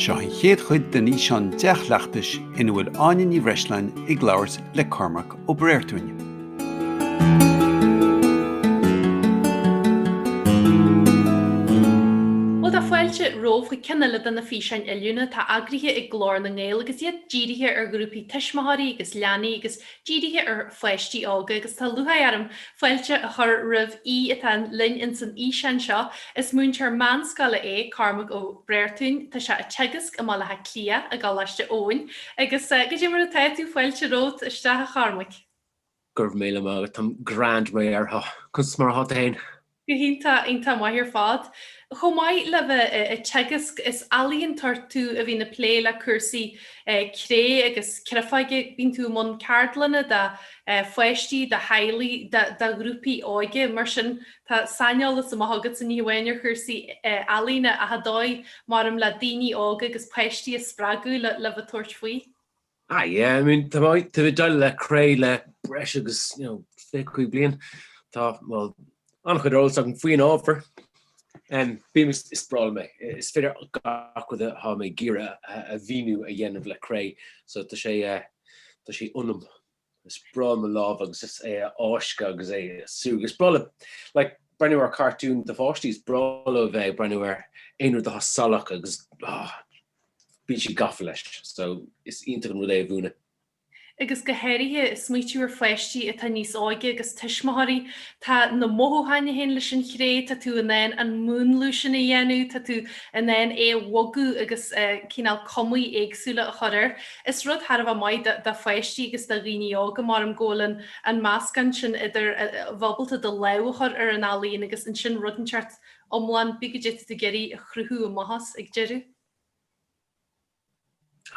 Seo an chéad chuid den fhíseán dea-chleachtais ina bhfuil Áine Ní Bhreisleáin ag labhairt le Cormac Ó Bréartúin. Bhuel, tá fáilte romhaibh chuig ceann eile de na físeáin oiliúna atá eagraithe ag Glór na nGael agus iad dírithe ar ghrúpaí tuismitheoirí agus leanaí agus dírithe ar pháistí óga agus tá lúcháir orm fáilte a chur roimh aoi atá linn ins an fhíseán seo. Is múinteoir meánscoile é Cormac Ó Bréartúin. Tá sé ag teagasc i mBaile Átha Cliath i gColáiste Eoin agus goidé mar atá tú fáilte romhat isteach a Chormaic. Go raibh míle maith agat. Táim grand réidh orthu. Conas mar atá tú féin? Go hiontach, iontach maith ar fad. Chomh maith le bheith ag teagasc, is ealaíontóir tú a bhíonn ag plé le cúrsaí cré agus creafóige. Bíonn tú i mbun ceardlanna do pháistí, do theaghlaigh, do ghrúpaí óige. Mar sin, tá saineolas maith agatsa ní hamháin ar chúrsaí ealaíne ach an dóigh, mar, em, le daoine óga agus páistí a spreagadh le bheith ag tabhairt faoi. Ah yeah, I mean, tá mé ag dul le cré le breis agus, you know, fiche cúig bliain. Tá, well, an-chuid eolas agam faoin ábhar. Em, bím is breá liom é. Is féidir gach rud atá mé ag iarraidh a mhíniú a dhéanamh le cré, so tá sé, eh, tá sé ionam. is breá liom a lámh agus is é a fháisceadh agus é a shú. Is breá liom like breathnú ar cartúin do pháistí. Is breá leo a bheith ag breathnú ar aon rud atá salach agus ah bíonn siad gafa leis so is iontach an rud é a mhúineadh. agus go háirithe smaoitiú ar pháistí atá níos óige agus tuismitheoirí. Tá na mothúcháin a théann leis an chré, tá tú in ann an múnlú sin a dhéanamh, tá tú in ann é a bhogadh agus cineál cumaí éagsúla a chur air. Is rud thar a bheith maith do pháistí agus do dhaoine óga, mar go bhfuil an meascán sin idir bheith ábalta do lámh a chur ar an ealaíon agus ansin rud inteacht iomlán, cibé goidé atá tú ag iarraidh a chruthú amach as ag deireadh.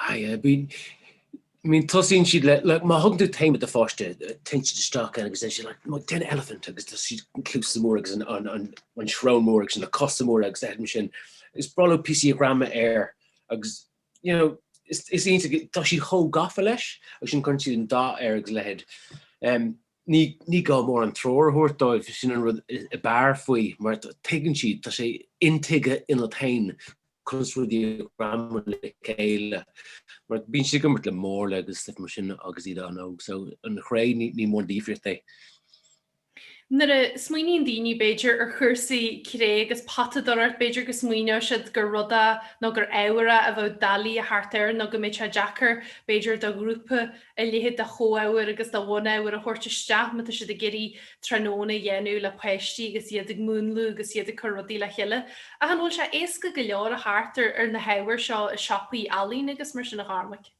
Aye, I mean tosaíonn siad like má thugann tú téama do pháiste, téann siad isteach ann agus ansin like, déan elephant agus tá siad na cluasa móra agus an, an, an, an srón mór agus na cosa móra agus ehm sin. Is breá leo píosaí a ghreamú air agus you know, is iontach go, tá siad chomh gafa leis agus ansin cuireann siad an dath air agus a leithéid. Em, ní, ní gá mórán treoir a thabhairt dóibh, sin an rud a b'fhearr faoi mar tuigeann siad, tá sé intuigthe iontu féin conas rudaí a ghreamú le chéile mar bíonn siad ag imirt le marla agus stuif mar sin agus iad an-óg so an chré ní, ní mór an difríocht é. Nuair a smaoiníonn daoine, b'fhéidir, ar chúrsaí cré agus potadóireacht, b'fhéidir go smaoineodh siad gur rud a, nó gur ábhar a, a bheadh doiligh a theacht air nó go mbeadh sé deacair, b'fhéidir, do ghrúpa a leithéid de chomhábhair agus de bhunábhair a thabhairt isteach má tá siad ag iarraidh tráthnóna a dhéanamh le páistí agus iad ag múnlú agus iad ag cur rudaí le chéile. Ach an bhfuil sé éasca go leor a theacht ar na hábhair seo i siopaí ealaíne agus mar sin, a Chormaic?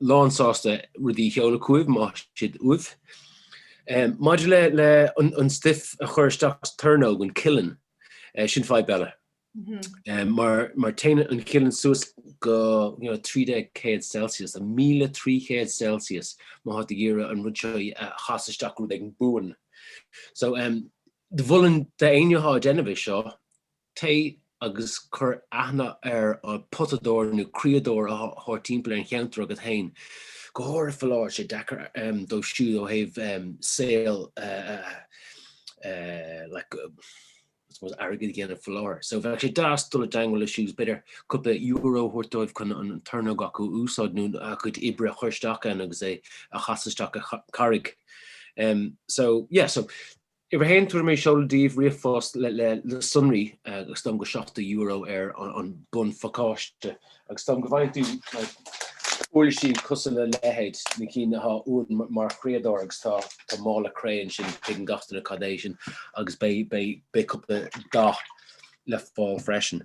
lán sásta rudaí a sheoladh chugaibh má tá siad uaibh. Maidir le le an stuif a chur isteach sa tornóg, an kiln, sin fadhb eile. Mar mar téann an kiln suas go 1300 Celsius, a míle trí chéad Celsius má tá tú ag iarraidh an rud seo a chasadh isteach go rud éigin buan. So do mholfainn d'aoinne atá ag déanamh é seo, Téigh agus cuir aithne ar potadóir nó criadóir atá timpeall ar an cheantar agat féin. Go háirithe fá láthair, sé deacair dóibh siúd ó thaobh saol like I suppose airgead a dhéanamh fá láthair. So bheadh sé deas dul i dteangmháil leo siúd is b'fhéidir cúpla euro a thabhairt dóibh chun an tornóg acu a úsáid nó a gcuid oibre a chur isteach ann agus é a chasadh isteach i gcarraig. So yeah, so Uimhir a haon, tabharfaidh mé seoladh daoibh ríomhphost le sonraí is dóigh liom go €70 ar an mbunphacáiste agus is dóigh liom go bhfaigheann tú uirlisí cosúil le leithéid na cinn atá uainn mar chriadóir agus tá mála cré ansin tuigeann gach duine cad é sin agus beidh cúpla dath le fáil freisin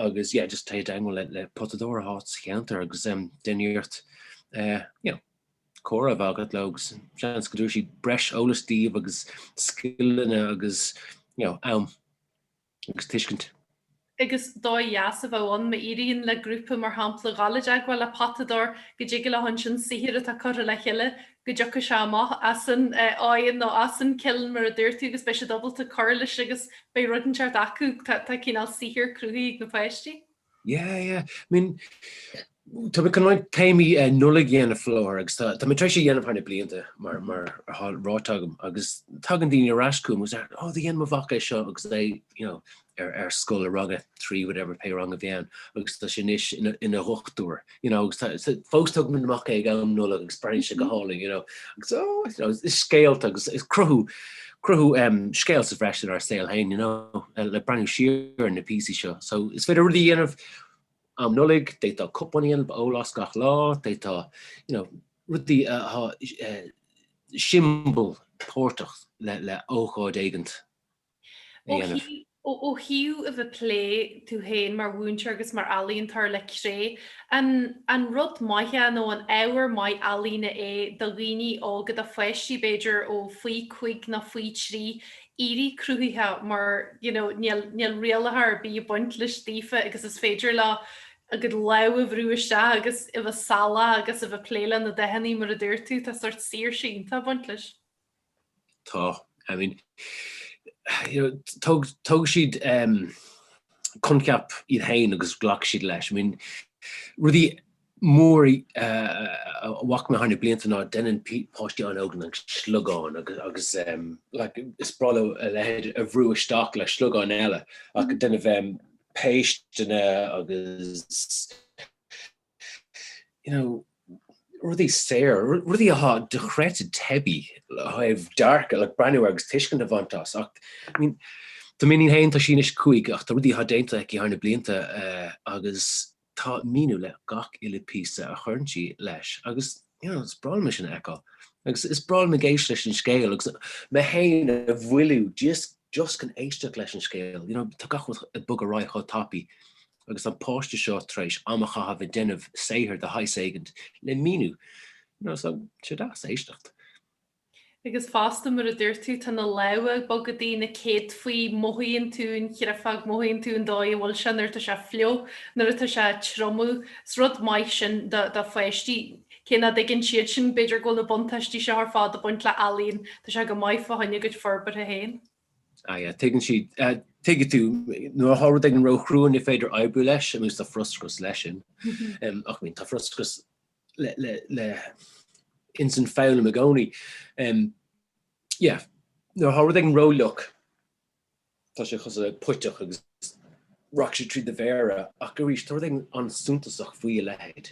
agus yeah just téigh i dteagmháil le potadóir atá sa cheantar agus déan iarracht you know. comhrá a bheith agat leo agus seans go dtabharfaidh siad breis eolas daoibh agus scileanna agus you know, am agus tuiscint. agus dóigh dheas a bheadh ann, má éiríonn le grúpa, mar shampla, dhul i dteagmháil le potadóir, go dtig leo ansin saothar atá curtha le chéile, go dtiocfadh sé amach as an oigheann nó as an kiln mar a dúirt tú agus beidh siad ábalta cur leis agus beidh rud inteacht acu, tá cineál saothar cruthaithe ag na páistí. Yeah yeah I mean tá mé chun roinnt téamaí Nollaig a dhéanamh faoi láthair agus tá tá mé tar éis é a dhéanamh thar na blianta mar mar atá ráite agam agus tagann daoine ar ais chugam agus they're, oh do dhéan mo mhac é seo agus é you know ar ar scoil a ranga trí whatever pé rang a bhí ann agus tá sé anois ina ina dhochtúir. you know, agus tá, so, fós tugaim amach é ag am Nollag agus breathaíonn sé go hálainn, you know, agus, oh, you know, is scéalta agus is cruthú, cruthú em, scéal sa bhreis inár saol féin, you know, eh, le breathnú siar ar na píosaí seo. So, is féidir rudaí a dhéanamh am Nollag, d'fhéadfá cupán a dhéanamh a ólas gach lá, d'fhéadfá, you know, rudaí a atá, eh, siombail páirteach le, le ócáid éigint. a dhéanamh. Ó thaobh a bheith ag plé tú féin mar mhúinteoir agus mar ealaíontóir le cré, an rud maith é nó an ábhar maith ealaíne é do dhaoine óga, do pháistí b'fhéidir ó faoi chúig nó faoi thrí, éirí cruthaitheach mar you know níl rialacha ar bith ag baint leis daofa agus is féidir leo a gcuid lámh a bhrú isteach agus a bheith salach agus a bheith ag plé le na dathannaí mar a dúirt tú, tá sórt saoirse iontach ag baint leis. Tá, I mean, you know, tóg siad coincheap iad féin agus ghlac siad leis. I mean, rudaí mór a bhfaca mé thar na blianta ná deineann páistí an-óga an sliogán agus like is breá leo a leithéid a bhrú isteach le sliogán eile ach ag déanamh péisteanna agus you know, rudaí saor, rudaí athá decorative teibí le haghaidh dearcadh, like breathnú agus tuiscint a bhaint as. Ach, I mean, tá m'iníon féin, tá sí anois cúig, ach tá rudaí athá déanta aici thar na blianta agus tá míniú le gach uile píosa a chuireann sí leis agus, you know, is breá liom é sin a fheiceáil. Agus is breá liom ag éisteacht leis an scéal agus mé féin a mhoilliú just, just chun éisteacht leis an scéal, you know, tá gach rud ag bogadh ar aghaidh chomh tapaidh agus an páiste seo tar éis am a chaitheamh ag déanamh saothair de shaghas éigint le míniú, you know, so sé deas éisteacht. Agus fosta, mar a dúirt tú, tá na lámha ag bogadaí, na céadfaí, mothaíonn tú an chréafóg, mothaíonn tú an dóigh a bhfuil sé nuair atá sé fliuch, nuair atá sé ag triomú, is rud maith sin do pháistí, cé nach dtuigeann siad sin b'fhéidir go bhfuil na buntáistí seo ar fad ag baint le ealaín, tá sé go maith fá choinne a gcuid forbartha féin. Ah yeah, tuigeann siad, tuigfidh tú, nuair atá rud éigin ró-chrua ní féidir oibriú leis, agus tá frustrachas leis sin. Ach I mean, tá frustrachas le ins an foghlaim i gcónaí. Yeah, nuair atá rud éigin ró-fhliuch, tá sé cosúil le puiteach agus rachaidh sé trí do mhéara, ach arís, tá rud éigin an-suntasach faoi a leithéid.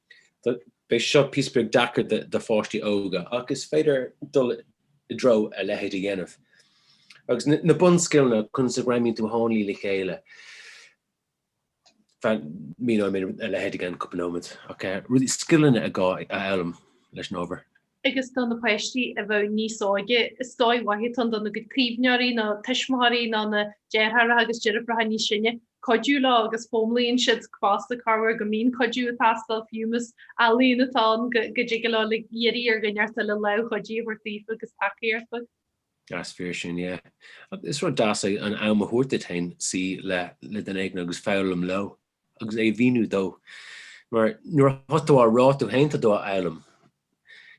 Beidh seo píosa beag deacair do pháistí óga ach is féidir dul i dtreo a leithéid a dhéanamh. Agus na bunscileanna, conas a ghreamaíonn tú dhá ní le chéile, míneoidh mé a leithéid i gceann cúpla nóiméad, ach rudaí, scileanna ar gá a fhoghlaim leis an ábhar. agus do na páistí a bheadh níos óige, is dóigh mhaith atá ann dona gcuid caomhnóirí nó tuismitheóirí nó na deartháireacha agus deirfiúracha níos sine cuidiú leo agus foghlaimíonn siad fosta corruair go mbíonn cuidiú ag teastáil fiú más ealaín atá ann go dtig leo uilig iarraidh ar dhuine inteacht eile lámh chuidithe a thabhairt daofa agus tacaíocht a Is fíor sin, yeah. Is rud deas é an am a thabhairt duit féin suí le duine éigin agus foghlaim leo. agus é a mhíniú dó, mar nuair a thá tú á rá tú fhéin tá tú á fhoghlaim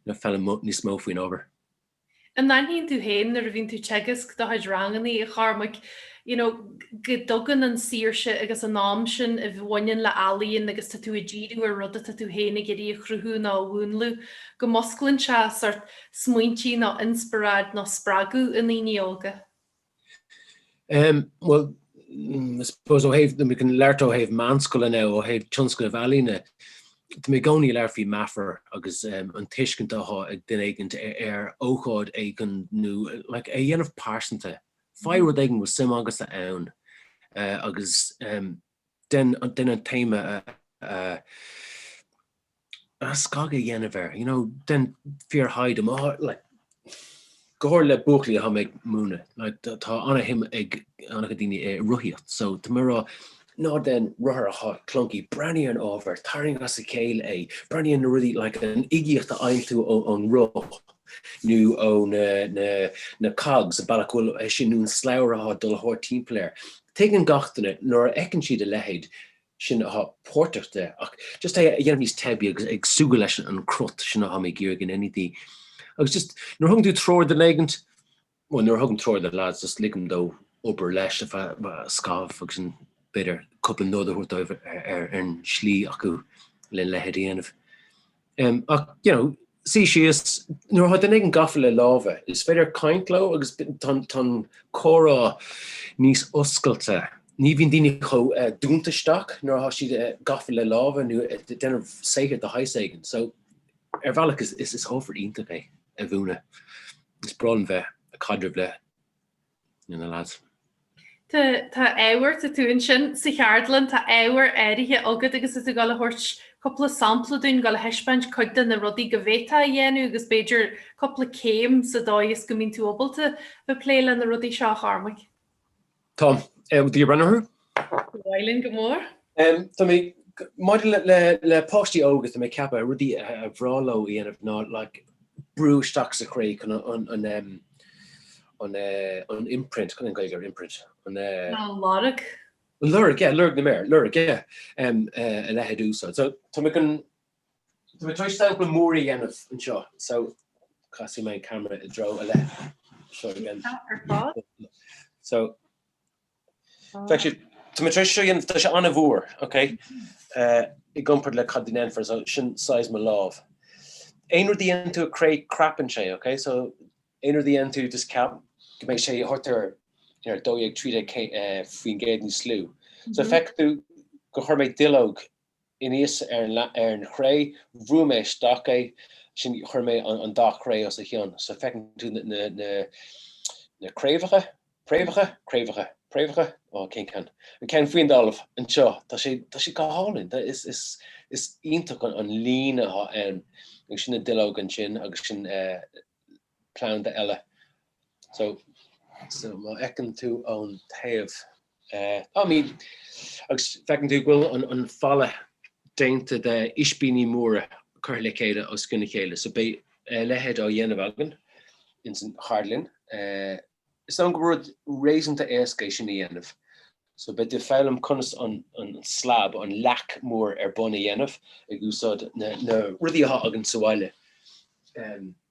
nó foghlaim níos mó faoin ábhar. An n-aithníonn tú fhéin nuair a bhíonn tú teagasc do chuid rangannaí, a Chormaic, you know go dtugann an saoirse agus an am sin a bhaineann le ealaíon agus tá tú ag díriú ar rud atá tú fhéin ag iarraidh a chruthú nó a mhúnlú, go músclann sé sort smaointí nó inspioráid nó spreagadh i ndaoine óga? Em bhuel I suppose ó thaobh, we can labhairt ó thaobh meánscoile now, ó thaobh tionscadail ealaíne, tá mé i gcónaí ag labhairt faoi meafair agus em an tuiscint atá ag duine éigin ar ócáid éigin nó like é a dhéanamh pearsanta. Faigh rud éigin a bhfuil suim agatsa ann eh agus em dein dein an téama a a A scagadh a dhéanamh air, you know, dein fíorthaighde em, like, go háirithe le buachaillí atá mé ag múineadh, like, tá an-shuim ag an-chuid daoine i rothaíocht, so tá mé ag rá, ná dein rothar atá clunky, breathnaigh ar an ábhar, tarraing as a chéile é, breathnaigh ar na rudaí, like, an uigeacht a fhaigheann tú ón roth nó ó na, na, na cogs, bealach go bhfuil é sin nó an slabhra atá ag dul thart timpeall air. Tuigeann gach duine, nuair a fheiceann siad a leithéid, Sin athá páirteach de. Ach just é a dhéanamh níos teibí agus ag súgradh leis an cruth, sin athá mé ag iarraidh in anything. Agus just, nuair a thugann tú treoir do lad éigint, bhuel nuair a thugaim treoir do lads, just ligim dó obair leis ar feadh scaithimh agus an, b'fhéidir cúpla nod a thabhairt dóibh ar an slí acu le leithéid a dhéanamh. Ach, you know, suí síos, nuair atá duine ag an, gafa le lámha, is féidir caint leo agus tá an comhrá níos oscailte. Ní bhíonn daoine chomh dúnta isteach nuair atá siad gafa le lámha nó ag déanamh saothair de shaghas éigin. So, ar bhealach is ábhar iontach é a mhúineadh. Is breá liom bheith ag caidreamh le Le na lads. Tá tá ábhar, tá tú ansin sa cheardlann, tá ábhar áirithe agat agus tá tú ag dul a thabhairt cúpla sampla dúinn, ag dul a thaispeáint cuid de na rudaí go bhféadfá a dhéanamh agus b'fhéidir cúpla céim sa dóigh is go mbíonn tú ábalta bheith plé le na rudaí seo, a Chormaic. Tá. Do you breathnú orthu? Ba mhaith linn go mór. Tá mé, maidir le páistí óga, tá mé ag ceapadh rudaí a bhreá leo a dhéanamh ná like brú isteach sa chré chun an an imprint, cad é an Gaeilge ar imprint? an eh. An lorg. An lorg, yeah, lorg na méar, lorg, yeah, a leithéid a úsáid. So tá mé chun, tá mé tar éis sampla mór a dhéanamh anseo, so casfaidh mé an camera i dtreo a leith. Seo againn. Tá ar fáil. So Actually, tá mé tar éis, seo é. Tá sé an-mhór, okay? i gcomparaid le cad a déanfar, so sin saghas mo lámh. Aon rud a dhéanann tú as cré crapann sé, okay? So aon rud a dhéanann tú just ceap go mbeidh sé thart ar a 12, 13, eh, faoin gcéad níos lú. So feicfidh tú gur chuir mé duilleog anuas ar an chré. Bhrúigh mé isteach é. Ansin chuir mé an dara cré os a chionn. So feiceann tú na craobhacha, préamhacha, craobhacha, préamhacha? Ó, cén ceann? An ceann faoin dtalamh anseo. Tá sé, tá sé go hálainn. Is iontach an líne atá ann. Agus sin na duilleoga ansin agus sin é. planda eile, so má fheiceann tú ón taobh é, I mean, agus feiceann tú go bhfuil an falla déanta de ispíní móra curtha le chéile os cionn a chéile so beidh a leithéid á dhéanamh againn ins an Cheardlann. It's not go rud réasúnta éasca é sin a dhéanamh so beimid ag foghlaim conas an slab, an leac mór ar bun a dhéanamh ag úsáid na rudaí atá againn sa bhaile.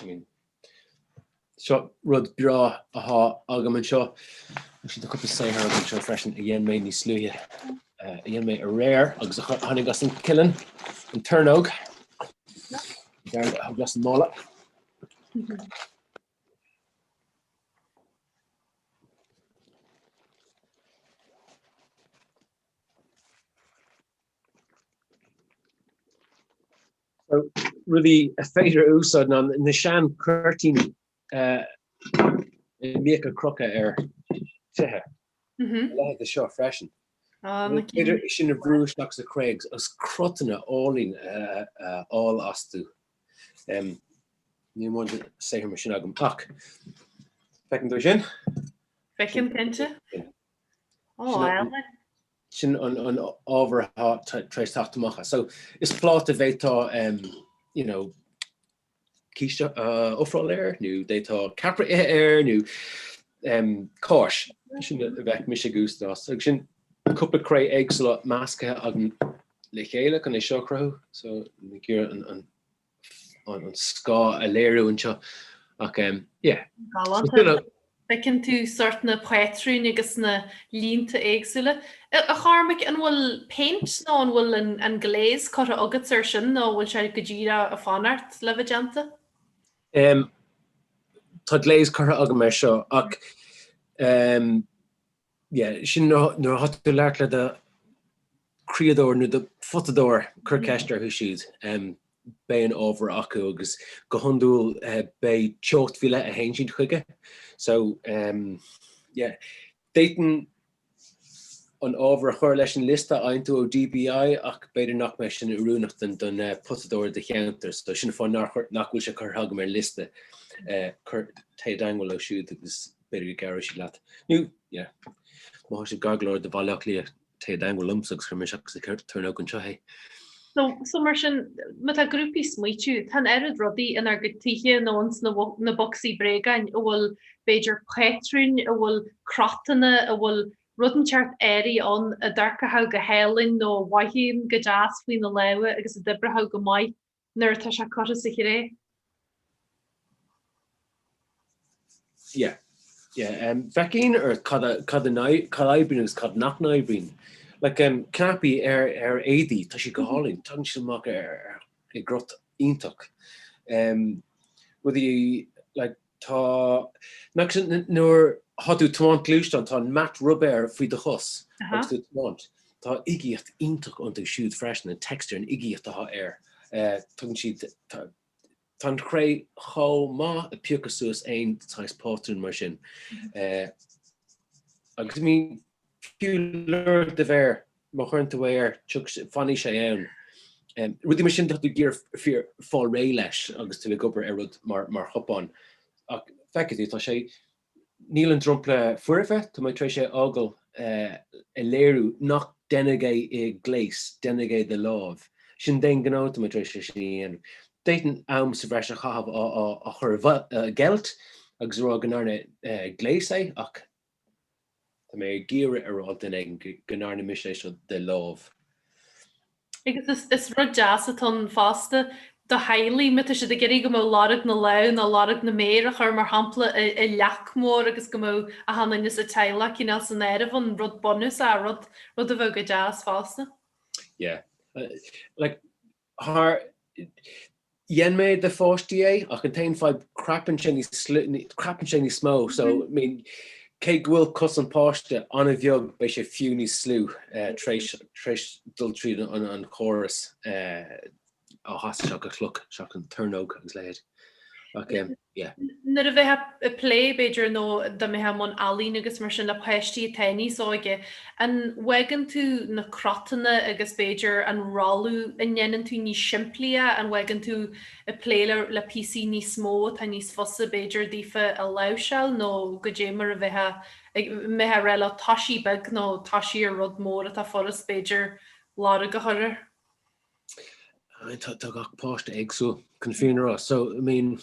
I mean, seo rud breá athá agam anseo, actually tá cúpla saothar agam anseo freisin a dhein mé níos luaithe, eh, a dhein mé aréir agus a chur- tháinig as an kiln, an tornóg, tabharfad as an mála. So rudaí is féidir a úsáid ná na sean cuirtíní a mbíodh ar crochadh ar tithe. Leithéid de seo freisin. Is féidir sin a bhrú isteach sa chré agus cruthanna áille a fháil astu. Níl mórán saothar mar sin agam ach feiceann tú sin? Feicim cinnte. Ó, álainn. Sin an ábhar atá tar éis teacht amach as. So is pláta é, d'fhéadfá you know císte a ofráil air nó d'fhéadfá ceapaire a ithe air nó cáis. Sin a bheadh mise ag úsáid air. Agus sin cúpla cré éagsúla measctha agam le chéile chun é seo a chruthú. So ag iarraidh an an scáta a léiriú anseo ach yeah. Galánta. Feiceann tú sort na pátrúin agus na línte éagsúla. A Chormaic, an bhfuil paint nó an bhfuil an glaze curtha agat air sin nó an bhfuil sé go díreach ag fanacht le bheith déanta? Tá glaze curtha agam air seo ach Yeah, sin nuair a thá tú labhairt le do chriadóir nó do photadóir cuir ceist orthu siúd. Beidh an ábhar acu agus go hiondúil beidh teocht mhíle a théann siad chuige. So, yeah, d'fhéadfainn an ábhar a chur leis an liosta a aontú ó DBI ach b'fhéidir nach mbeidh sin oiriúnach don photadóir i do cheantar. So sin an fáth nach bhfuil sé curtha agam ar liosta. Cuir, téigh i dteagmháil leo siúd agus. b'fhéidir go gcabhróidh siad leat. Nó, yeah. Má thá siad gar go leor do Bhaile Átha Cliath, téigh i dteagmháil liomsa agus cuirfidh mé isteach sa tornóg anseo é. So, so mar sin, má tá grúpaí ag smaoitiú, tá an oiread rudaí inár gcuid tithe nó ins na, na bocsaí bréagáin a bhfuil b'fhéidir patrúin, a bhfuil crotanna, a bhfuil rud inteacht áirithe ann a d'amharcfadh go hálainn nó a mhothaíonn go deas faoi na lámha agus a d'oibreodh go maith nuair atá sé curtha sa chré. Yeah, yeah, féachaint ar cad a oibríonn agus cad nach n-oibríonn. Like, cnaipí ar éadaí, tá siad go hálainn, tagann siad amach i gcrot iontach. Rudaí, like, Tá, nach cad é, nuair thá tú tiomáint gluaisteán tá an mata rubair faoi do chos agus tú ag tiomáint. Tá uigeacht iontach iontu siúd freisin, an texture, an uigeacht atá air. Tugann siad, tá an chré chomh maith ag piocadh suas aon saghas pátrún mar sin. Agus I mean, fiú lorg do mhéir má chuireann tú é air tiocfaidh sé fanfaidh sé ann. Rudaí mar sin tá tú ag iarraidh fáil réidh leis agus tú ag obair ar rud mar mar chupán ach feicfidh tú tá sé níl an dromchla foirfe tá mé tar éis é a fhágáil a léiriú nach deineadh é i gléas deineadh é de láimh sin d'aon ghnó tá mé tar éis é sin a dhéanamh. D'fhéadfainn am sa bhreis a chaitheamh á chur i gceilt agus a rá go ndearna gléas é ach Tá mé ag iarraidh a rá ag duine éigin go ndearna mise é seo de láimh. Agus is rud deas atá ann fosta do theaghlaigh, má tá siad ag iarraidh go mbeadh lorg na lámh nó lorg na méar a chur mar shampla i leac mhór agus go mbeadh achan duine sa teaghlach cineál san áireamh ann, rud bunúsach, rud a bheadh go deas fosta. Yeah. Like, Thar dhein mé do pháistí é ach an t-aon fadhb crapann sé níos crapann sé níos mó so I mean cé go bhfuil cos an pháiste an-bheag beidh sé fiú níos lú tréis dul tríd an chóras á hasadh seach an chloc seach an tornóg agus leithéid ach. yeah. Nuair a bheitheá ag plé, b'fhéidir, nó dá mbeitheá i mbun ealaín agus mar sin, le páistí atá níos óige, an bhfaigheann tú na crotanna agus b'fhéidir an rothlú a ndéanann tú níos simplí é? An bhfaigheann tú ag plé le, le píosaí níos mó atá níos fusa b'fhéidir daofa a láimhseáil nó goidé mar a bheitheá ag, mbeitheá rá leo toisí beag nó toisí ar rud mór atá furast b'fhéidir lorg a chur air? I mean tá tá gach páiste éagsúil chun fírinne a rá so I mean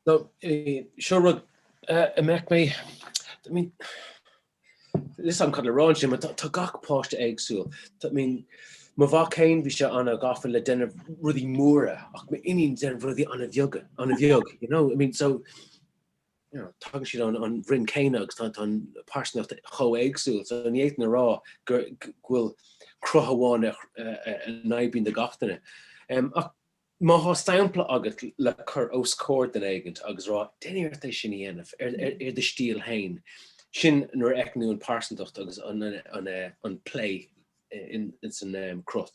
no eh, seo rud eh, i mbeadh mé I mean hesitant le rá sin mar tá tá gach páiste éagsúil tá I mean mo mhac féin bhí sé an-ghafa le déanamh rudaí móra ach mo iníon déanamh rudaí an-bheaga an-bheag you know I mean so you know, tagann siad ón, ón bhroinn céanna agus tá, tá an pearsanacht chomh éagsúil, so ní fhéadfainn a rá go bhfuil cruth amháin a, a, a, a n-aibíonn do gach duine. Um, ach má tá sampla agat le cur os comhair duine éigint agus rá déan iarracht é sin a dhéanamh ar, ar, ar do stíl fhéin, sin nuair a fheiceann tú an pearsantacht agus an, an, an, an plé in, ins an um, cruth.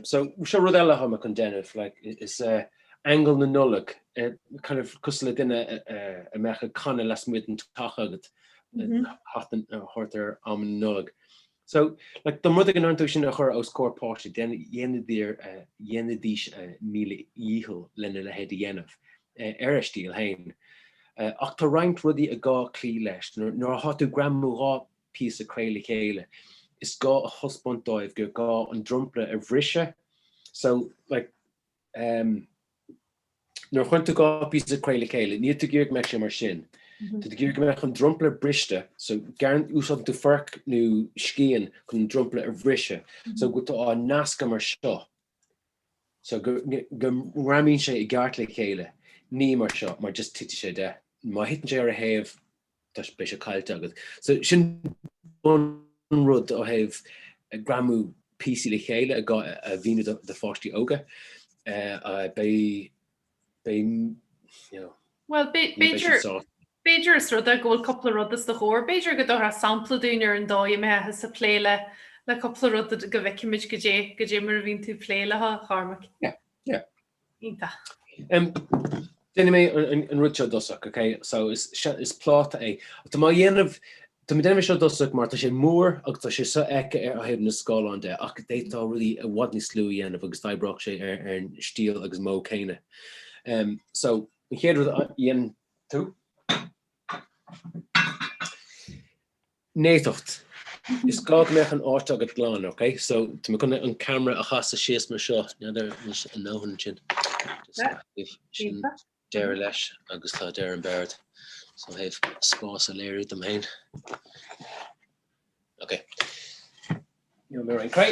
So seo rud eile atá mé chun déanamh, like, is ea aingeal na Nollag, kind of cosúil le duine a bheadh ag canadh lasmuigh den teach agat a thabhairt ar am na Nollag. So, like, dá mba rud é go ndéanann tú sin a chur os comhair páistí, dhéanfaidís míle dícheall lena leithéid a dhéanamh, ar a stíl fhéin. Ach tá roinnt rudaí is gá cloí leis. Nuair atá tú ag greamú dhá píosa cré le chéile, is gá a thaispeáint dóibh gur gá an dromchla a bhriseadh. So, like, em, nuair a chuireann tú dhá phíosa cré le chéile, níl tú ag iarraidh go mbeadh sé mar sin. Tá tú ag iarraidh go mbeadh an dromchla briste. So, gearrann, úsáideann tú forc nó scian chun an dromchla a bhriseadh. So, go, tá tú á nascadh mar seo. So, go, go ngreamaíonn sé i gceart le chéile. Ní mar seo, mar just titfidh sé de. Má thiteann sé ar a thaobh, tá sé, beidh sé caillte agat. So sin an rud ó thaobh greamú píosaí le chéile a mhíniú do do pháistí óga. Beidh, beidh, you know, Bhuel, beidh, ní bheidh b'fhéidir, siad sásta. b'fhéidir is rud é go bhfuil cúpla rud os do chomhair. B'fhéidir go dtabharfá sampla dúinn ar an dóigh a mbeitheása ag plé le, le cúpla rud go bhfeicfimid goidé, goidé mar a bhíonn tú ag plé leo, Chormac. Yeah, yeah. Iontach. Déanfaidh mé an rud seo i dtosach, ok? So is pláta é. Tá mé á dhéanamh, tá mé ag déanamh é seo i dtosach mar tá sé mór agus tá sé so-fheicthe ó thaobh an scáileáin de ach d'fhéadfá rudaí i bhfad níos lú a dhéanamh agus d'oibreodh sé ar an stíl agus modh céanna. So an chéad rud a dhéanann tú, Néatacht. Is gá go mbeadh an áit agat glan, ok? So, tá mé chun an camera a chasadh síos mar seo, n'fheadar anois an ndóthain ansin. Sin deireadh leis agus tá deireadh an bord. So, ó thaobh spás a léiriú dom féin. Ok. Seo roinnt cré.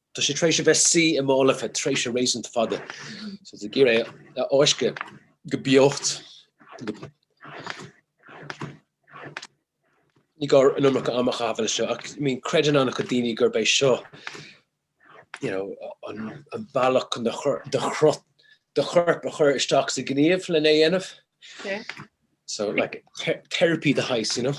Tá sé tar éis a bheith suí i mála feadh tréimhse réasúnta fada, so tú ag iarraidh é a fháisceadh go beacht. Ní gá an iomarca ama a chaitheamh leis seo ach I mean creideann an-chuid daoine gurb é seo you know, an, an bealach chun do, do, do chorp a chur isteach sa ghníomh lena dhéanamh. Okay. So like therapy de shaghas, you know.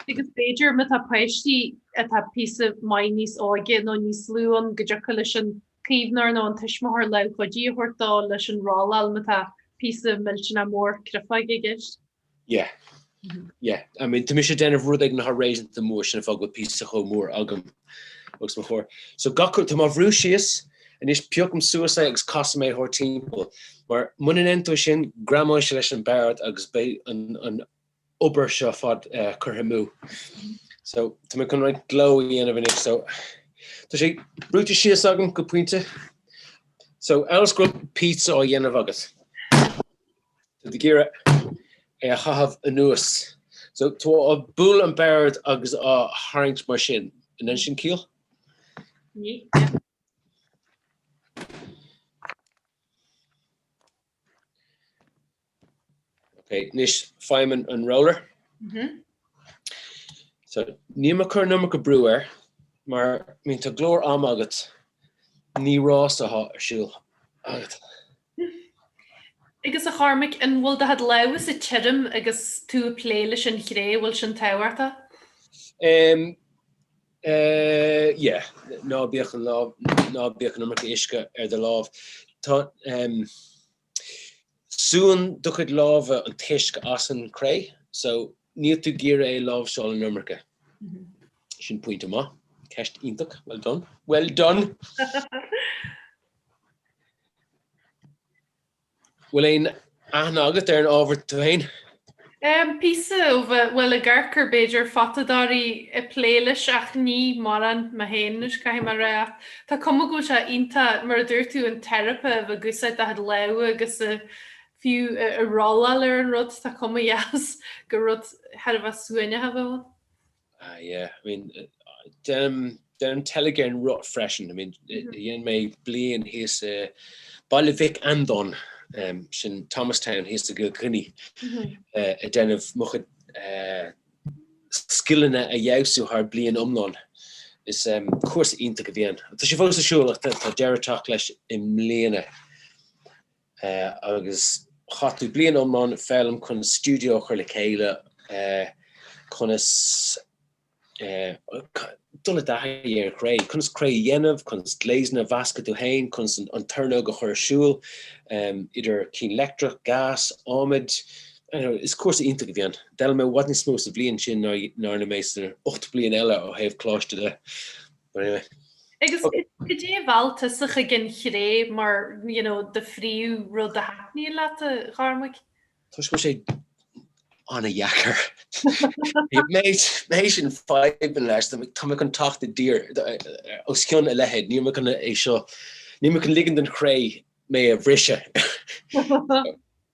Agus b'fhéidir má tá páistí atá píosa maith níos óige nó níos lú ann go dtiocfadh leis an caomhnóir nó an tuismitheoir lámh chuidithe a thabhairt dó leis an rolláil má tá píosa millteanach mór créafóige i gceist. Yeah, yeah. I mean tá mise ag déanamh rud éigin atá réasúnta mór sin an fáth go bhfuil píosa chomh mór agam. os mo chomhair. So gach uair, tá mé á bhrú síos, anois piocaim suas é agus casaim é thart timpeall. Mar muna ndéanann tú sin, greamóidh sé leis an bord agus beidh an obair seo ar fad curtha amú. So tá mé chun roinnt gleo a dhéanamh anois. So tá sé brúite síos agam go pointe. So amhail is go raibh pizza á dhéanamh agat. Tá tú ag iarraidh é a chaitheamh anuas. So tú ag bualadh an bord agus á tharraingt mar sin. An ndéanann sin ciall? Ní, yeah. Ok, anois faighim an roller. Mhm. So níl mé ag cur an iomarca brú air mar I mean tá go leor ama agat ní rás atá ar siúl agat. Agus a Chormaic, an bhfuil do chuid lámhasa tirim agus tú ag plé leis an chré, an bhfuil sin tábhachtach? Em, eh, yeah, ná bíodh an lámh, ná bíodh an iomarca uisce ar do lámh. Tá, em, súnn do chuid lámha an t-uisce as an chré, so níl tú ag iarraidh é a láimhseáil an iomarca. Sin pointe maith. Ceist iontach. Well done. Well done! Bhfuil aon aithne agat ar an ábhar tú féin? Em, píosa, ó bheith, bhuel, ag amharc ar, b'fhéidir, photadóirí ag plé leis ach ní mórán, mé féin anois, caithfidh mé a rá. Ach tá cuma go bhfuil sé iontach, mar a dúirt tú, an teiripe a bheith ag úsáid do chuid lámha agus a, fiú, ag rolláil ar an rud, tá cuma dheas, gur rud thar a bheith suaimhneach a bheadh ann. Ah yeah, I mean, deinim teilgean ar an roth freisin. I mean, dhein mé bliain thíos i Baile Mhic Andáin, sin Thomastown thíos i gCill Chainnigh, ag déanamh mo chuid scileanna a fheabhsú thar bliain iomlán. Is cúrsa iontach a bhí ann. Tá sé fós ar siúl ach tá deireadh ag teacht leis i mbliana. agus chaith tú bliain iomlán ag foghlaim conas stiúideo a chur le chéile, conas dul i dtaithí ar an chré, conas cré a dhéanamh, conas gléasanna a mheascadh tú fhéin, conas an tornóg a chur ar siúl, idir cinn leictreach, gas, adhmaid, you know, is cúrsa iontach a bhí ann. D'fhoghlaim mé i bhfad níos mó sa bhliain sin ná a rinne mé sna 8 bliain eile ó thaobh coláiste de. Anyway. Agus goidé a mheall tusa chuig an chré mar you know do phríomhrud a thaitníonn leat a Chormaic. Toisc go bhfuil sé an-dheacair. Méid sin fadhbanna leis so tá mé chun teacht i dtír os cionn a leithéid níl mé chun é seo níl mé chun ligean don chré mé a bhriseadh.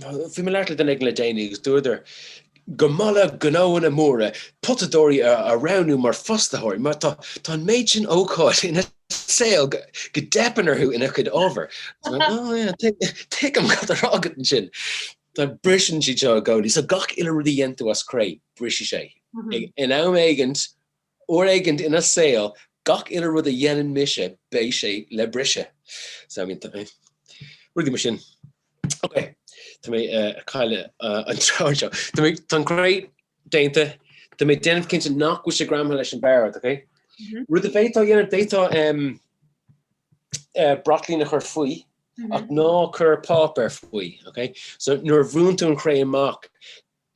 Bhí mé ag labhairt le duine éigin le déanaí agus dúradar go maith le gnóanna móra potadóirí a roghnú mar fostaitheoirí mar tá an méid sin ócáid ina saol go dteipeann orthu ina chuid ábhar. Tuigim cad atá á rá agat ansin. Tá briseann siad seo i gcónaí so gach uile rud a dhéanann tú as cré brisfidh sé. In am éigint Uair éigint ina saol gach uile rud a dhéanann mise beidh sé le briseadh. So I mean rudaí mar sin. Ok, tá mé ag cailleadh an treoir anseo. Tá mé, tá an cré déanta, tá mé déanamh cinnte nach bhfuil sé greamaithe leis an bord, ok? Rud a bhféadfá dhéanamh, d'fhéadfá braitlín a chur faoi ach ná cuir páipéar faoi, ok? So nuair a bhrúnn tú an chré amach,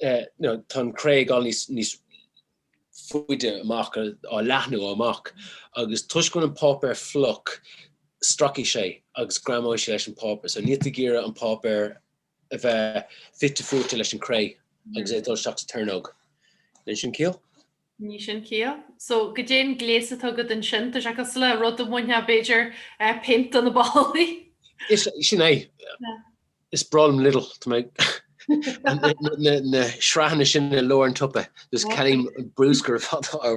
tá an chré ag gabháil níos faide amach, á leathnú amach, agus toisc go bhfuil an páipéar fliuch, stracfaidh sé agus greamóidh sé leis an páipéar. So níl tú ag iarraidh an páipéar a bheith fite fuaite leis an chré agus é ag dul isteach sa tornóg. Déanann sin ciall? Ní sin ciall. So, goidé'n gléas atá agat ansin? Tá sé cosúil le rud a bhainfeadh, b'fhéidir, péint de na ballaí. Is é sin é. Is breá liom Lidl. Tá mé ag na sraitheanna sin i lár an tsiopa. Is ceannaím an bruscar.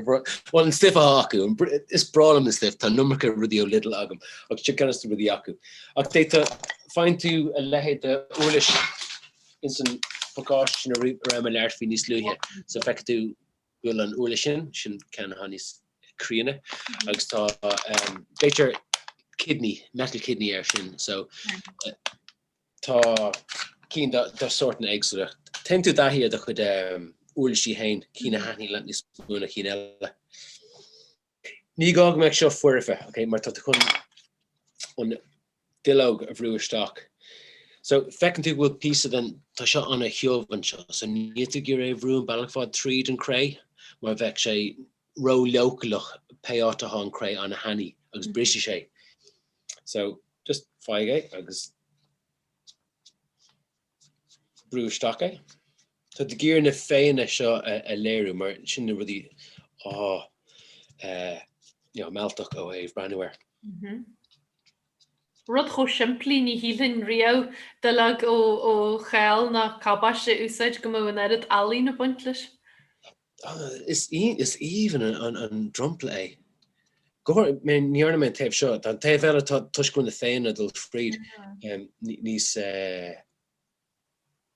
Bhuel, an stuif atá acu. Is breá liom an stuif. Tá an iomarca rudaí ó Lidl agam. Ach sin ceann de na rudaí acu. Ach d'fhéadfá, faigheann tú a leithéid d'uirlis. Ins an pacáiste sin a raibh mé ag labhairt faoi níos luaithe, so feicfidh tú go bhfuil an uirlis sin, sin ceann atá níos críonna, agus tá b'fhéidir kidney, metal kidney air sin, so tá cinn de shórtanna éagsúla. Téann tú i dtaithí ar do chuid uirlisí féin, cinn a thaitníonn leat níos mó ná cinn eile. Ní gá go mbeadh seo foirfe, okay, mar tá tú chun an duilleog a bhrú isteach. So, feiceann tú go bhfuil píosa den, tá seo an-thiubh anseo, so níl tú ag iarraidh é a bhrú an bealach ar fad tríd an chré mar bheadh sé ró-leochaileach pé áit athá an chré an-thanaí agus brisfidh sé. So, just fág é agus. brú isteach é. Tá tú ag iarraidh na féitheanna seo a léiriú mar sin na rudaí atá mealltach ó thaobh breathnú air. Rud chomh simplí ní shílfinn riamh duilleog ó chál nó cabáiste a úsáid go mbeadh an oiread ealaíne ag baint leis. Is aoibhinn an dromchla é. Ní dhearna mé an taobh seo. Tá an taobh eile, tá toisc na féitheanna ag dul fríd níos,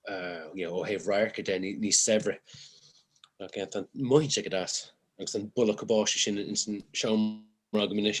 ó thaobh radharca de, níos saibhre. Mothaíonn sé go deas agus an boladh cabáiste sin ins an seomra agam anois.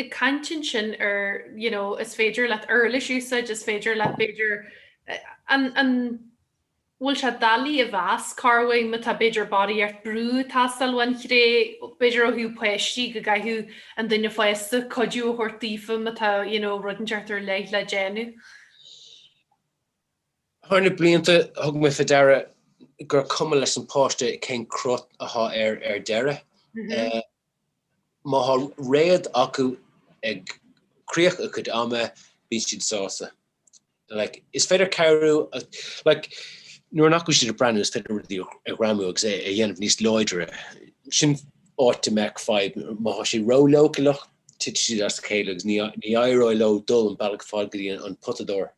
Ag caint ansin ar you know is féidir leat uirlis úsáid, is féidir leat b'fhéidir an an bhfuil sé doiligh a mheas cá huair má tá b'fhéidir barraíocht brú ag teastáil ón chré b'fhéidir ó thaobh páistí go gcaithfeadh an duine fásta cuidiú a thabhairt daofa má tá you know rud éigint ar leith le déanamh. Thar na blianta thug mé fé deara gur cuma leis na páistí cén crot athá air ar deireadh. Má thá réad acu ag críoch a cuid ama bíonn siad sásta. Like, is féidir cabhrú, like, nuair nach bhfuil siad ag breathnú is féidir rudaí a ghreamú agus é a dhéanamh níos láidre. Sin áit a mbeadh fadhb. Má thá siad ró-leochaileach titfidh siad as a chéile agus ní éireoidh leo dul an bealach ar fad go dtí an potadóir.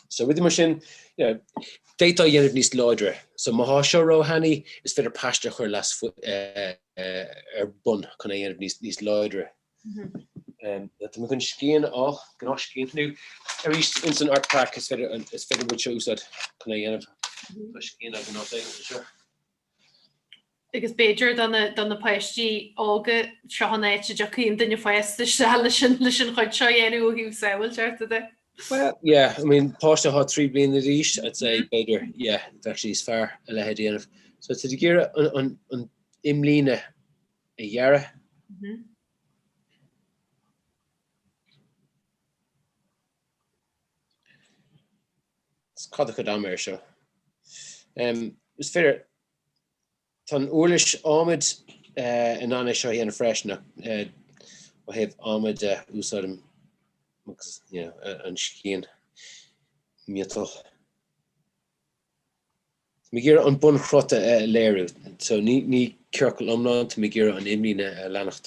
So rudaí mar sin, you know, d'fhéadfá a dhéanamh níos láidre. So má thá seo ró thanaí, is féidir paiste a chur leis ar bun chun é a dhéanamh níos níos láidre. Tá mé chun scian, gnáthscian nó arís ins an art pack is féidir is féidir rud mar seo a úsáid chun é a dhéanamh. Tá scian ghnáth aige seo. agus b'fhéidir do na páistí óga, seo an áit a dtiocfaidh an duine fásta isteach leis an chuid seo a dhéanamh ó thaobh sábháilteachta de? Well, yeah, I mean, páiste atá trí bliana d'aois, I'd say, mm-hmm. b'fhéidir, yeah, actually is fearr a leithéid a dhéanamh. So, tá tú ag iarraidh an imlíne a ghearradh. Mm-hmm. Is cad a chuid ama é seo? Is féidir, tá an úirlis ádhmaid in ann é seo a dhéanamh freisin ach ó thaobh ama de úsáidim an scian miotail. Tá mé ag iarraidh an bunchruth a léiriú so ní ciorcal iomlán, tá mé ag iarraidh an imlíne a leanacht.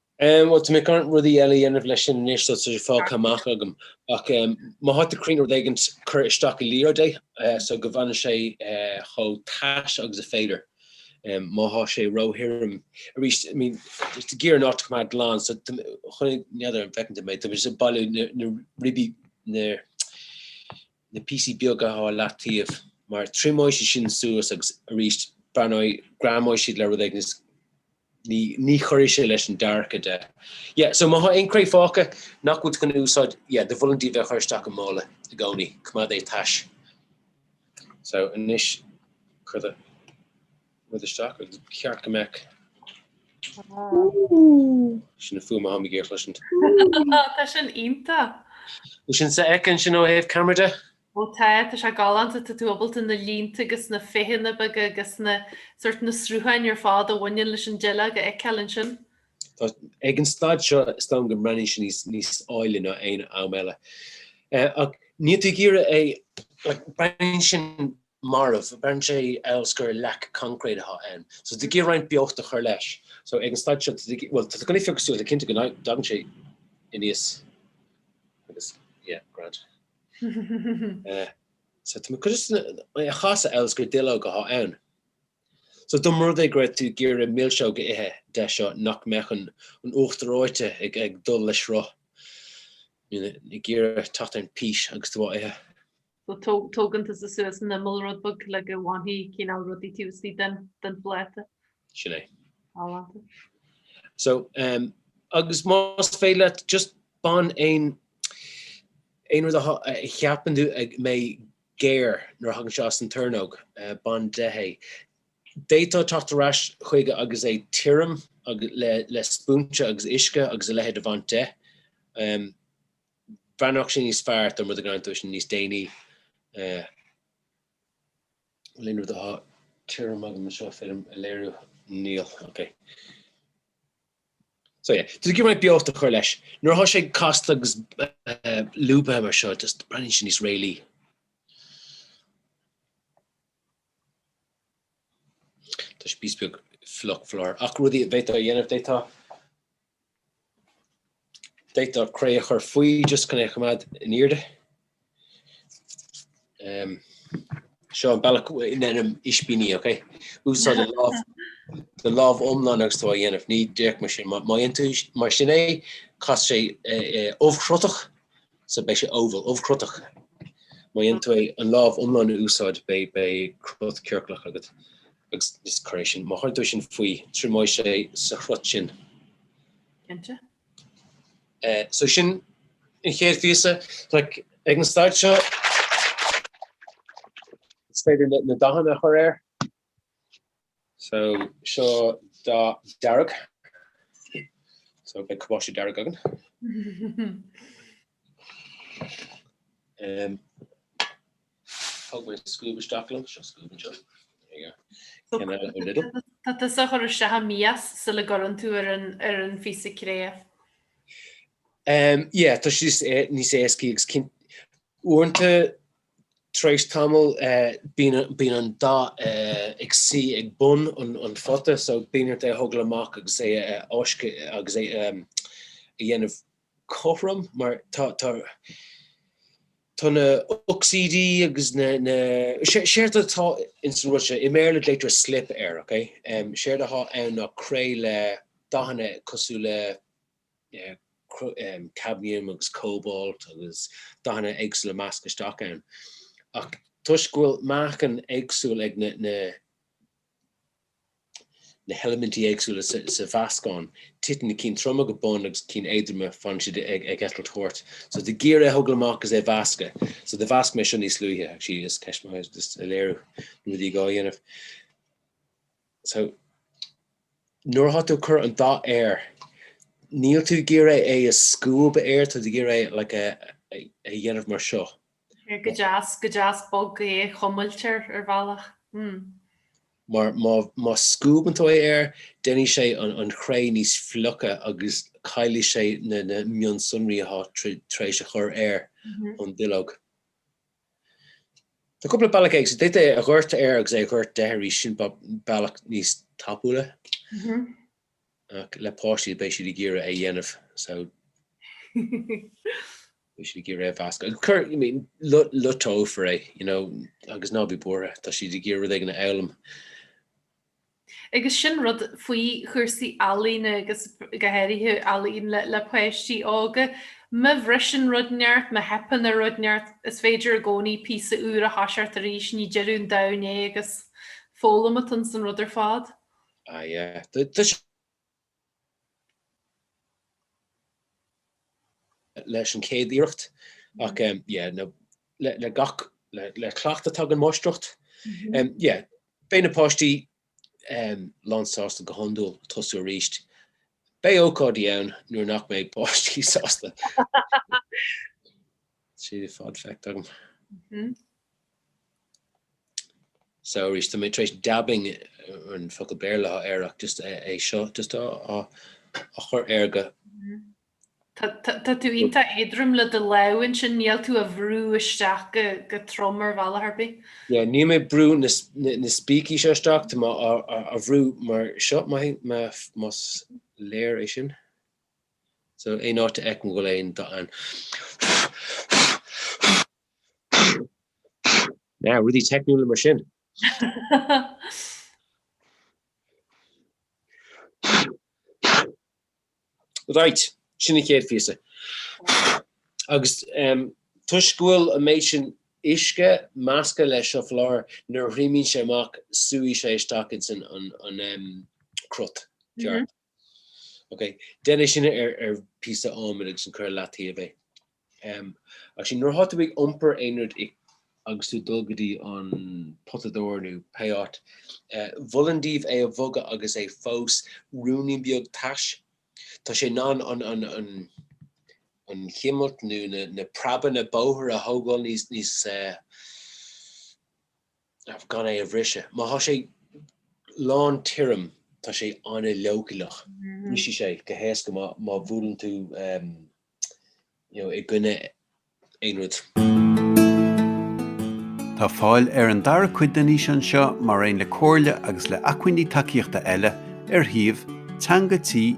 Em, bhuel, tá mé chun rudaí eile a dhéanamh leis sin anois so tá sé fágtha amach agam. Ach, em, má thá tú cruinn rud éigint cuir isteach i liathróid é, eh, so go bhfanann sé, eh, chomh tais agus is féidir. Em, má thá sé ró-thirim aríst, I mean, just ag iarraidh an áit a choimeád glan so tá, chonaic, n'fheadar an bhfeiceann tú mé, tá mé just ag bailiú na, na ribí, na, na píosaí beaga á leataobh mar triomóidh sé sin suas agus aríst breathnóidh, greamóidh siad le rud éigin is ní, ní chuirfidh sé leis an dearcadh de. Yeah, so má thá aon chré fágtha nach bhfuil tú chun a úsáid, yeah, do mholfainn daoibh é a chur isteach i mála i gcónaí, coimeád é tais. So, anois, cuir do. rud isteach agus ba cheart go mbeadh sin an fhuaim athá mé ag iarraidh a chloisint. Tá sin iontach. Bhfuil sin sofheicthe ansin ó thaobh camera de. Ó tá, tá sé galánta, tá tú ábalta na línte agus na féitheanna beaga agus na sort na srutháin ar fád a bhaineann leis an duilleog a fheiceáil ansin. Tá, ag an staid seo is dóigh liom go mbreathnaíonn sé níos níos áille ná aon am eile. Eh, ach níl tú ag iarraidh é, like, breathnaíonn sin marbh. Breathnaíonn sé amhail is gur leac concrete athá ann. So tá tú ag iarraidh roinnt beocht a chur leis. So ag an staid seo tá tú ag iarraidh, bhuel tá gnaoi fioghusta le cinnte go dtagann sé aníos agus yeah grand. So tá mé chun just é a chasadh amhail is gur duilleog athá ann. So dá mba rud é go raibh tú ag iarraidh milseog a ithe de seo nach mbeadh an an uachtar reoite ag ag dul le sruth. Ag iarraidh teacht ar an pís agus tú á ithe. So tógann tusa suas an imeall rud beag le go bhfanfaidh cineál rudaí taobh istigh den phláta. Sin é. Galánta. So agus más féidir leat just bain aon aon rud a cheapann tú a mbeidh géar nuair a thagann sé as an tornóg bain de é. D'fhéadfá teacht ar ais chuige agus é tirim le spúinse agus uisce agus a leithéid a bhaint de. Bheannódh sé níos fearr dá mba rud é go ndéantaí é níos déanaí. Bhfuil aon rud eile atá tirim agam anseo féidir a léiriú? Níl. Ok. So yeah. Just go mbeidh beocht a chur leis. Nuair atá sé casta agus lúbtha mar seo just breathnaíonn sé níos réalaí. Tá sé píosa beag fliuch fós. Ach rudaí a d'fhéadfá a dhéanamh, d'fhéadfá. D'fhéadfá cré a chur faoi just chun é a choimeád in airde. Seo an bealach a ndéanaim ispíní, ok? Úsáid do lámh iomlán agus tú á dhéanamh. Ní díreach mar sin. Má dhéanann tú mar sin é, casann sé ubhchrutach, so beidh sé oval, ubhchrutach. Má dhéanann tú é an lámh iomlán a úsáid, beidh cruth ciorclach agat. Agus is cré sin, má chuireann tú sin faoi, triomóidh sé sa chruth sin. Cinnte. So sin an chéad phíosa. Tá ag an staid seo, is féidir na dathanna a chur air. So seo dath dearg. So beidh cabáiste dearg againn. Thug mé scuab isteach liom. Seo scuab anseo. There you go. Came out of the middle. Tusa a chur isteach i mias sula gcuireann tú ar an ar an phíosa cré. Em yeah tá sé níos é- níos éascaí agus cinn- uaireanta tar éis tamaill eh bíonn an bíonn an dath eh ag suí ag bun an an phota so bíonn ort é a thógáil amach agus é a mheascadh agus é em a dhéanamh cothrom mar tá tá tá na hocsaídí agus na na sé séard atá ins an rud sin i mBéarla glaoitear slip air ok em séard atá ann ná cré le dathanna cosúil le eh cro em cadmium agus cobalt agus dathanna éagsúla measctha isteach ann ach toisc go bhfuil meáchan éagsúil ag na na na heilimintí éagsúla sa mheascán. Titeann na cinn troma go bun agus na cinn éadroma fanann siad ag eitilt thart. So tá tú ag iarraidh é a thógáil amach is é a mheascadh. So do mheasc mé seo níos luaithe actually is ceist maith é just a léiriú na rudaí a gá dhéanamh. So nuair atá tú ag cur an dath air níl tú ag iarraidh é a scuabadh air tá tú ag iarraidh é like a dhéanamh mar seo. Go deas, go deas bog é a chuimilt air ar bhealach. Hm. Mar má scuabann tú é air, déanfaidh sé an chré níos fliche agus caillfidh sé na mionsonraí atá tú tar éis a chur air ón duilleog. Tá cúpla bealach eile, d'fhéadfá é a dhoirteadh air agus é a dhoirteadh de arís, sin bealach níos tapúla. Ach le páistí beidh siad ag iarraidh é dhéanamh so beidh siad ag iarraidh é mheascadh. Ag cur, I mean, loiteofar é, you know, agus ná bí buartha, tá siad ag iarraidh rud éigin a fhoghlaim. Agus sin rud faoi chúrsaí ealaíne agus go háirithe ealaín le, le páistí óga, má bhriseann rud inteacht, má theipeann ar rud inteacht, is féidir i gcónaí píosa úr a thoiseacht arís, ní deireadh an domhain é agus foghlaim atá insan rud ar fad. Ah yeah. Tá sé leis an chéad iarracht ach yeah no le gach le cleachtadh tagann máistreacht. Yeah beidh na páistí lán sásta go hiondúil tosú arís. Beidh ócáidí ann nuair nach mbeidh páistí sásta. Sea, ar fad feicthe agam. Mhm. So arís, tá mé tar éis dabbing an focal Béarla air ach just é seo just á á chur air go. Mhm. Tá tá tá tú iontach éadrom le do lámh ansin, níl tú á bhrú isteach go go trom ar bhealach ar bith. Yeah, níl mé ag brú na na na spící seo isteach, tá mé á á á bhrú mar seo, maith, más léir é sin. So aon áit a fheicim go bhfuil aon do an Now, rudaí teicniúla mar sin. Right, sin an chéad phíosa. Agus em toisc go bhfuil an méid sin uisce measctha leis seo faoi láthair nuair a thriomaíonn sé amach suífidh sé isteach insan an em crot ceart. Ok. Deineadh sin ar phíosa adhmaid agus ansan cuireadh i leataobh é. Ach sin, nuair atá tú ag iompar aon rud agus tú ag dul go dtí an potadóir nó pé áit, mholfainn daoibh é a bhogadh agus é fós ruainnín beag tais. Tá sé in ann an chimilt nó na preabanna bóthair a thógáil níos. gan é a bhriseadh. Má thá sé lán tirim tá sé an-leochaileach. Brisfidh sé go héasca má bhuaileann tú i gcoinne aon rud. Tá fáil ar an dara cuid den fhíseán seo mar aon le comhairle agus le acmhainní tacaíochta eile ar shuíomh Teanga Tí